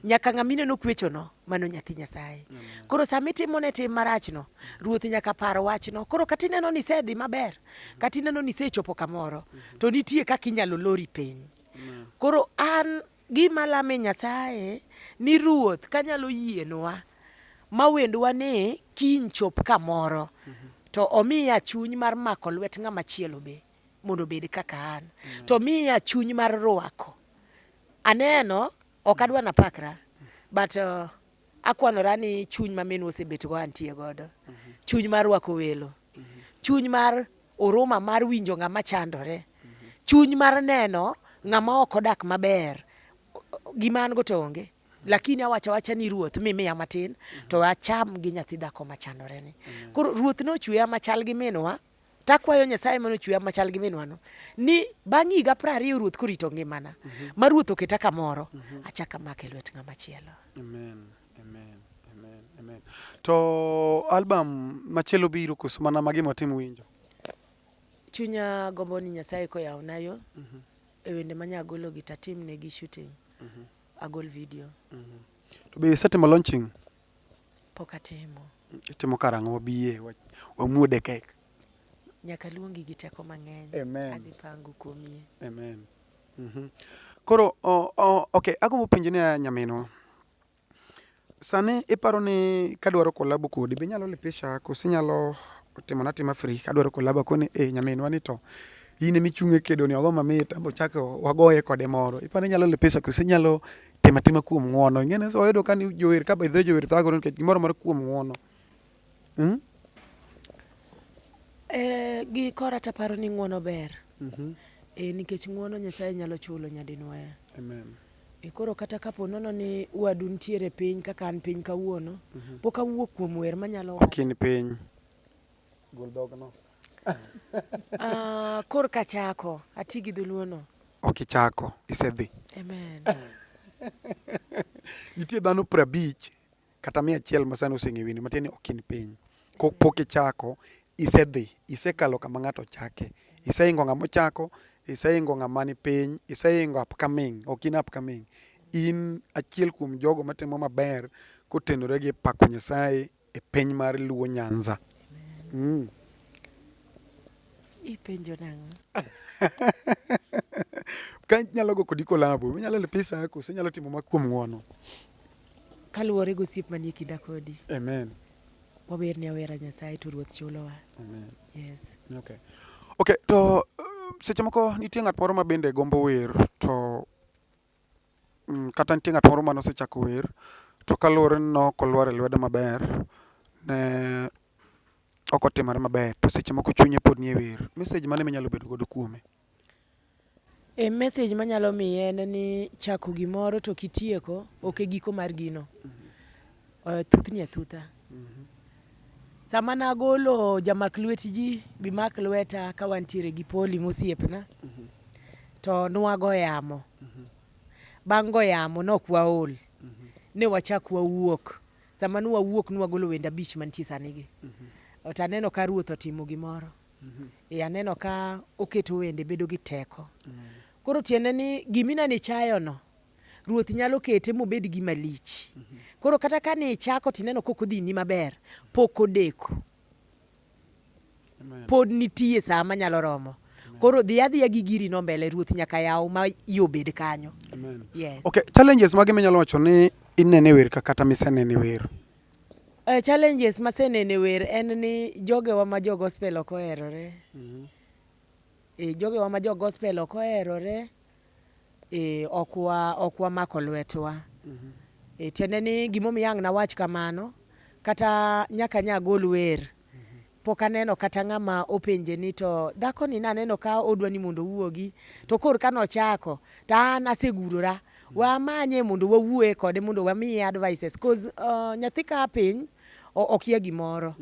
nyaka ng'ama ineno kwechono mano nyathi nyasaye koro sama itimone tim marachno ruoth nyaka par wachno koro kata ineno ni isedhi maber kata ineno ni isechopo kamoro to nitie kaka inyalo lori piny koro an gima lame nyasaye ni ruoth kanyalo yienwa ma wendwa ni kiny chop kamoro to omiya chuny mar mako lwet ng'ama chielo be mondo obed kaka an mm. to miya chuny mar rwako aneno ok adwa na pakra but uh, akwanora ni chuny ma minwa osebet go antie godo mm-hmm. chuny mar rwako welo mm-hmm. chuny mar oruma mar winjo ng'ama chandore mm-hmm. chuny mar neno ng'ama ok odak maber gima an go to onge lakini awacha wacha ni ruoth mimiya matin to acham gi nyathi dhako machandore ni koro ruoth nochweya machal gi minwa to akwayo Nyasaye mane ochweya machal gi minwano ni bang' higa piero ariyo ruoth korito ngimana mm -hmm. ma ruoth oketa kamoro mm -hmm. achak amake lwet ng'ama chielo. Amen. Amen. Amen. Amen. To album machielo biro koso mana magi matim winjo? Chunya gombo ni Nyasaye koyawna yo mm -hmm. e wende manya agolo gi tatim ne gi shooting mm -hmm. agol video mm -hmm. To be isetimo launching? Pok atimo. Itimo karang'o wabiye wamuode kek. Nyaka luongi gi teko mang'eny. Amen. Adhi pango kuomie. Amen. Mm -hmm. Koro oh, oh, okay, agombo penjo ni nyaminwa. Sani iparo ni kadwaro kolabo kodi be inyalo lipisha koso inyalo timona tima free kadwaro kolabo koni e eh, nyaminwa ni to in ema ichung' e kedoni ogo mamit ambe ochako wagoye kode moro iparo ni inyalo lipisha koso inyalo Tim atima kuom ng'wono. Ing'eni so oyudo ka ni jower ka bedhe jower thagore nikech gimoro moro kuom ng'wono. Mm? Eh, gi kora taparo ni ng'wono ber. Mm -hmm. E, nikech ng'wono Nyasaye nyalo chulo nyadinwaya. Amen. E koro kata kapo nono ni wadu nitiere piny kaka an piny kawuono, mm -hmm. pok awuok kuom wer manyalo wacho. Okin piny. Gol dhogno. Ah, kor ka chako ati gi dholuono ok ichako isedhi amen nitie dhano piero abich kata mia achiel ma sani oseng'e wini matiende ni ok in piny kopok ichako isedhi isekalo kama ng'ato ochake iseingo ng'ama ochako iseingo ng'ama ni piny iseingo upcoming ok in upcoming in achiel kuom jogo matimo maber kotenore gi pako nyasaye e piny mar Luo Nyanza. Mm. Ipenjo nang'o? ka nyalo go kodi kolabo, minyalo lipisa yako, se nyalo timo makuom ng'wono. Kaluwore gi osiep manie kinda kodi. Amen. Wawer ne awera Nyasaye to Ruoth chulowa. Amen. Yes. Okay. Okay, to uh, seche moko nitie ng'at moro ma bende gombo wer to Mm, kata nitie ng'at moro mane osechako wer to kaluwore ni nok olwar e lwedo maber ne ok otimore maber to seche moko chunye pod nie wer mesej mane minyalo bedo godo kuome e mesej manyalo miye en ni chako gimoro to kitieko ok e giko mar gino Eh, Thuthni athutha. Sama nagolo jamak lwet ji, bimak lweta ka wantiere gi Poli mosiepna, to nwago yamo. Bang' go yamo nok waol, ne wachak wawuok. Sama nwawuok nwagolo wende abich mantie sanigi. To aneno ka Ruoth otimo gimoro. E, aneno ka oketo wende bedo gi teko. Koro tiende ni gimi nanichayono, Ruoth nyalo kete mobed gima lich. Koro kata ka ne ichako to ineno kok odhini maber, pok odeko. Pod nitie saa manyalo romo. Koro dhi adhiya gi giri no mbele, Ruoth nyaka yaw ma yo bed kanyo. Amen. Yes. Okay, challenges mage minyalo wacho ni inene wer ka kata misenene wer? Uh, challenges masenene wer en ni jogewa ma jo gospel ok oherore. Mm -hmm. E, jogewa ma jo gospel ok oherore. Ee, ok wa ok wamako lwetwa. E, tiende ni gimomiyo ang' nawach kamano, kata nyaka nya agol wer, pok aneno kata ng'ama openje ni to dhakoni naneno ka odwa ni mondo owuogi, to kor ka nochako, to an asegurora. We amanye mondo wawuoye kode mondo wamiye advices, cause uh, nyathi ka a piny o- okia gimoro.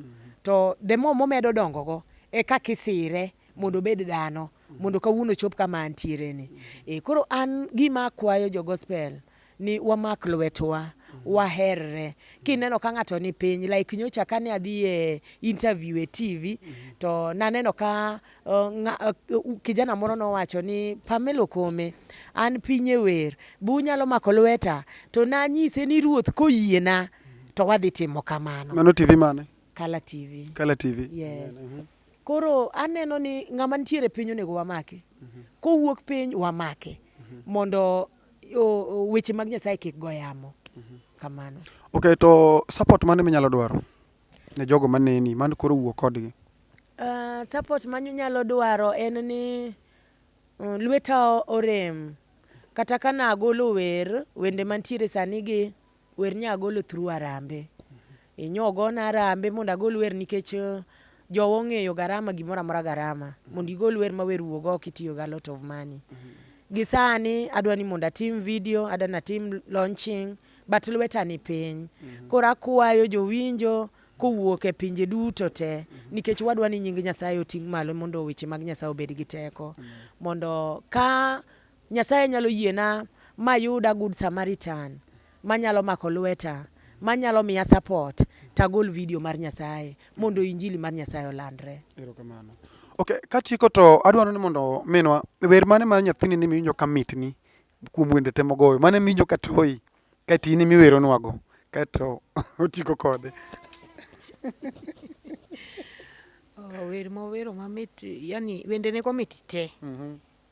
To the more momedo dongogo, e kaka isire mondo obed dhano mondo kawuono chop kama antiere ni. E, koro an gima akwayo jo gospel ni wamak lwetwa waherre kineno ka ng'ato ni piny like nyocha kane adhi e interview e TV to naneno ka uh, nga, uh, kijana moro nowacho ni Pamelo Kome an piny e wer bu nyalo mako lweta to nanyise ni ruoth koyiena to wadhi timo kamano. Mano TV mane? Kala TV. Kala TV. Yes. Mm -hmm. Koro aneno ni ng'ama nitiere piny onego wamake. Kowuok piny wamake mondo weche mag Nyasaye kik go yamo. Kamano. Okay, to support mane minyalo dwaro ne jogo maneni man koro wuok kodgi? Uh, support manyalo dwaro en ni uh, lweta orem kata ka nagolo wer wende mantiere sani gi Wer nya agolo through arambe. Inyo ogona arambe mondo agol wer nikech eh, jowa ong'eyo garama gimoro amora garama. Mondo igol wer ma wer wuog oko itiyo ga lot of money. Gi sani adwa ni mondo atim video, adwa ni atim launching but lweta ni piny. Koro akwayo jowinjo kowuok e pinje duto te nikech wadwa ni nying Nyasaye oting' malo mondo weche mag Nyasaye obed gi teko. Mondo ka Nyasaye nyalo yiena mayud a good Samaritan manyalo mako lweta, manyalo miya support to agol video mar Nyasaye mondo injili mar Nyasaye olandre. Erokamano. Ok, katieko to adwaro ni mondo minwa wer mane mar nyathini ni miwinjo ka mitni kuom wende te mogoyo mane miwinjo ka toyi kaeto in imiweronwago kaeto otiko kode Oh, wer mowero mamit yani wendene komit te Mhm.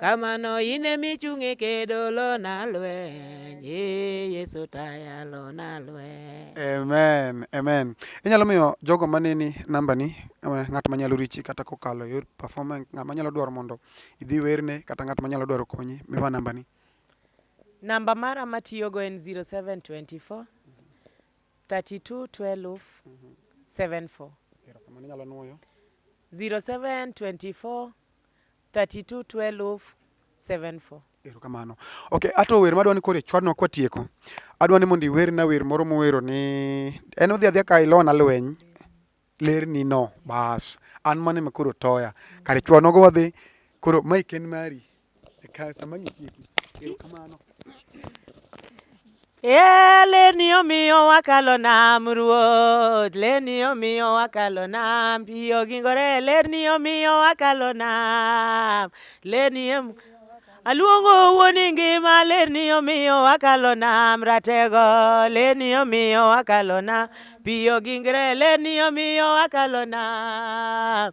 kamano in emi chung' e kedo lona lweny ee yesu taya lona lweny amen amen inyalo miyo jogo maneni nambani eh, ng'at manyalo richi kata kokalo e yor performance ng'at manyalo dwaro mondo idhi werne kata ng'at manyalo dwaro konyi miwa nambani namba mara matiyogo en 0724 32 12 74 erokamano inyalo nwoyo 0724 32 12 74. Erokamano. Okay, ato wer madwani kore chwadno kwa tieko. Adwani mondo iwerna wer moro muwero ni en odhi adhi ka ilona lweny ler ni no bas an mane ma koro toya kare chwadno go wadhi koro mai ken mari e ka sama ngitieki. Erokamano. Yeah, leni omiyo wakalo nam ruoth leni omiyo wakalo nam piyo gingore leni omiyo wakalo nam leni em- aluongo wuoni ngima leni omiyo wakalo nam ratego leni omiyo wakalo nam piyo gingre leni omiyo wakalo nam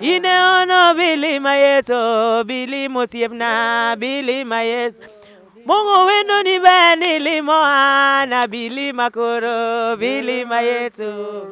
Ine ono bili ma Yesu, bili mosiepna, bili ma Yesu. Mungu wendo ni bani limoana, bili makoro, bili ma Yesu.